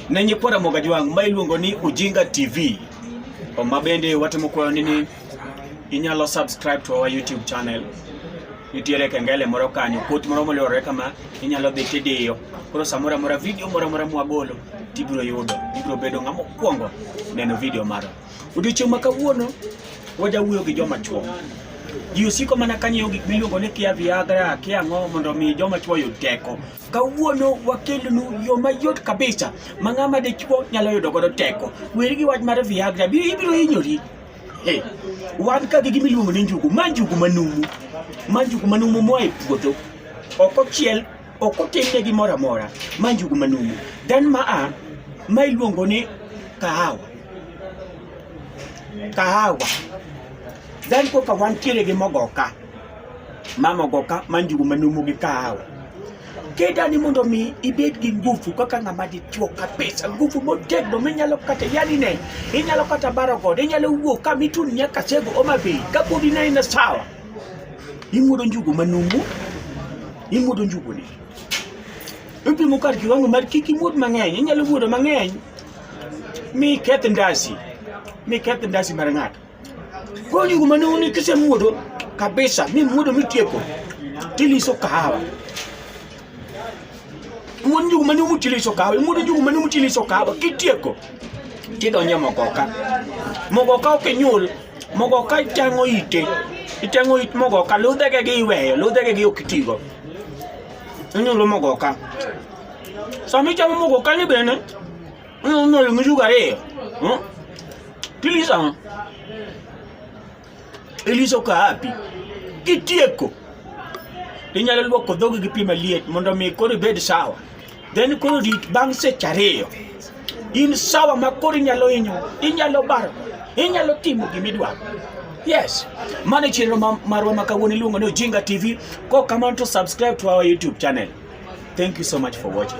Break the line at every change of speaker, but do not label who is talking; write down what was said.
Nenye kwara moga jwang ma iluongo ni Ujinga TV. Oma bende watimo kwayo ni ni inyalo subscribe to our YouTube channel. Nitiere kengele moro kanyo, kot moro molore kama inyalo dhi tidiyo. Koro samora mora video moro mora mwagolo tibiro yudo, ibiro bedo ng'ama okwongo neno video mara. Odiochieng' ma kawuono wajawuoyo gi joma chwo. Ji osiko mana kanyiewo gik miluongo ni kia Viagra, kia ang'o mondo mi joma chwo oyud teko. Kawuono wakelonu yo mayot kabisa ma ng'ama dichwo nyalo yudo godo teko. Weri gi wach mar Viagra, bi ibiro hinyori. Hey, wan ka gi gimiluongo ni njugu, ma njugu manumu, ma njugu manumu moa e puodho, ok ochiel, ok otimne gimoro amora, ma njugu manumu. Then ma a, ma iluongo ni kahawa, kahawa. Then koka wantiere gi mogoka. mamogo ka manjugu manumu gi kahawa kedani mondo mi ibed gi nguvu kaka ng'ama dichuo kabisa, nguvu motegno minyalo kata yani ne inyalo kata baro godo, inyalo wuok ka mitun nyaka sego Homa Bay ka podi ne ina sawa, imuodo njugu manumu, imuodo njugu ni ipimo kar kiwango mar kik imuod mang'eny, inyalo muodo mang'eny mi keth ndasi, mi keth ndasi mar ng'ato. Kwani kumane unikise muodo kabisa, mi muodo mitieko tiliso kahawa muodo njugu mane umutiliso kahawa muodo njugu mane umutiliso kahawa kitieko tidonje mogoka mogoka okinyul mogoka iteng'o ite iteng'o it mogoka ludhege gi iweyo ludhege gi okitigo inyulo mogoka sama ichamo mogoka ni bene Ano na yung sugar eh. Hmm? Tilisa mo. Elisa uko wapi? Kitieko. Inyalo luoko dhogi gi pi maliet mondo mi koro ibed sawa. Then koro rit bang' seche ariyo. In sawa ma koro inyalo hinyo, inyalo baro, inyalo timo gima idwaro. Yes. Mane chenro marwa ma kawuono iluongo ni Ojinga TV. Ko kamano to subscribe to our YouTube channel. Thank you so much for watching.